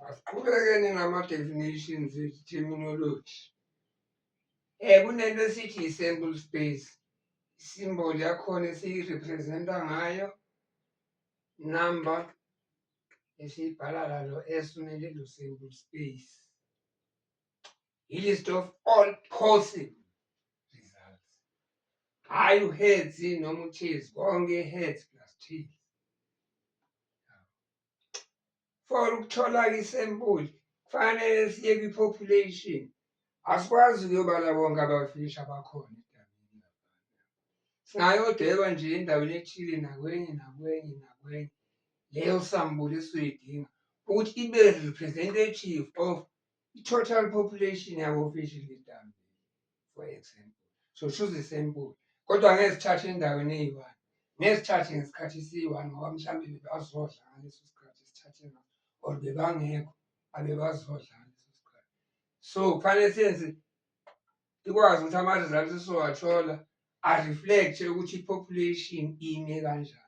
Asiqhubekeni nama-definitions terminology. Eh kunento esithi i-sample space. Isimbol yakhona esiyirepresenta ngayo number esiyibhala lalo S kumele lo sample space. ilist of all possible results hhayi uheads noma ucheese konke heads plus cheese for ukuthola isempuli kufanele siye kwi-population asikwazi ukuyobala bonke abafishi abakhona singayodweba nje endaweni ethile nakwenye nakwenye nakwenye leyo sambuli esuyidinga ukuthi ibe representative of I-total population yabofishil idambile for example so shuze isempulo kodwa ngeke sithathe endaweni eyi-one ngeke sithathe ngesikhathi esiyi-one ngoba mhlawumbe bebazodla ngaleso sikhathi sithathe ngaso or bebangekho abebazodla ngaleso sikhathi so kufanele senze ikwazi ukuthi ama-results esizowathola a-reflect-e ukuthi i-population ime kanjani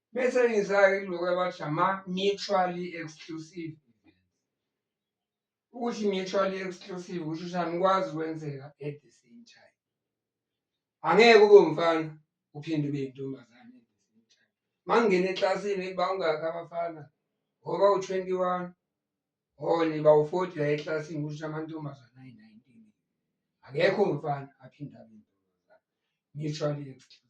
Bese ngizake kuloko abathi ama-mutually exclusive ukuthi mutually exclusive kusho ukuthi anikwazi ukwenzeka at the same time angeke ube umfana uphinde ube yintombazane at the same time uma ngingena eklasini bangakhi abafana ngoba u-twenty one hole bawu-forty la eklasini kusho ukuthi amantombazane ayi-nineteen akekho umfana aphinde abe intombazane mutually exclusive